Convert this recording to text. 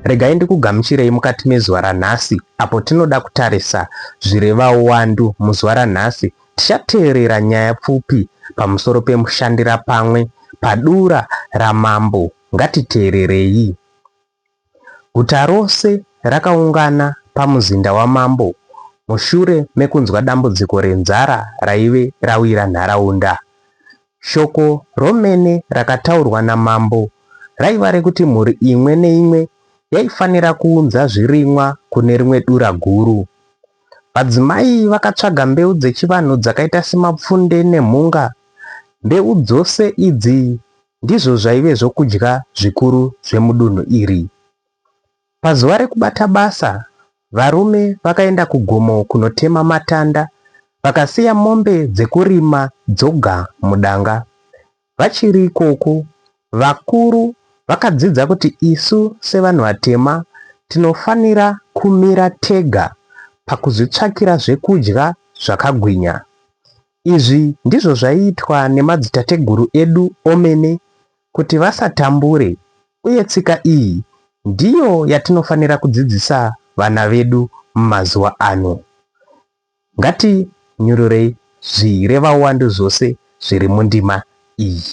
Regai ndikugamuchirei mukati mezuva ranhasi apo tinoda kutarisa zvireva uwandu muzuva ranhasi tichateerera nyaya pfupi pamusoro pemushandira pamwe padura ramambo ngatiteererei Guta rose rakaungana pamuzinda wamambo mushure mekunzwa dambudziko renzara raive rawira nharaunda. Shoko romene rakataurwa namambo raiva rekuti mhuri imwe neimwe yaifanira kuunza zvirimwa kune rimwe dura guru. Vadzimai vakatsvaga mbeu dzechivanhu dzakaita semapfunde nemhunga. Mbeu dzose idzi ndizvo zvaive zvokudya zvikuru zvemudunhu iri. Pazuva rekubata basa, varume vakaenda kugomo kunotema matanda vakasiya mombe dzekurima dzoga mudanga. Vachiri ikoko, vakuru vakadzidza kuti isu sevanhu vatema tinofanira kumira tega pakuzvitsvakira zvekudya zvakagwinya. Izvi ndizvo zvaiitwa nemadzitateguru edu omene kuti vasatambure uye tsika iyi ndiyo yatinofanira kudzidzisa vana vedu mumazuva ano. Ngatinyururei zvirevauwandu zvose zviri mundima iyi.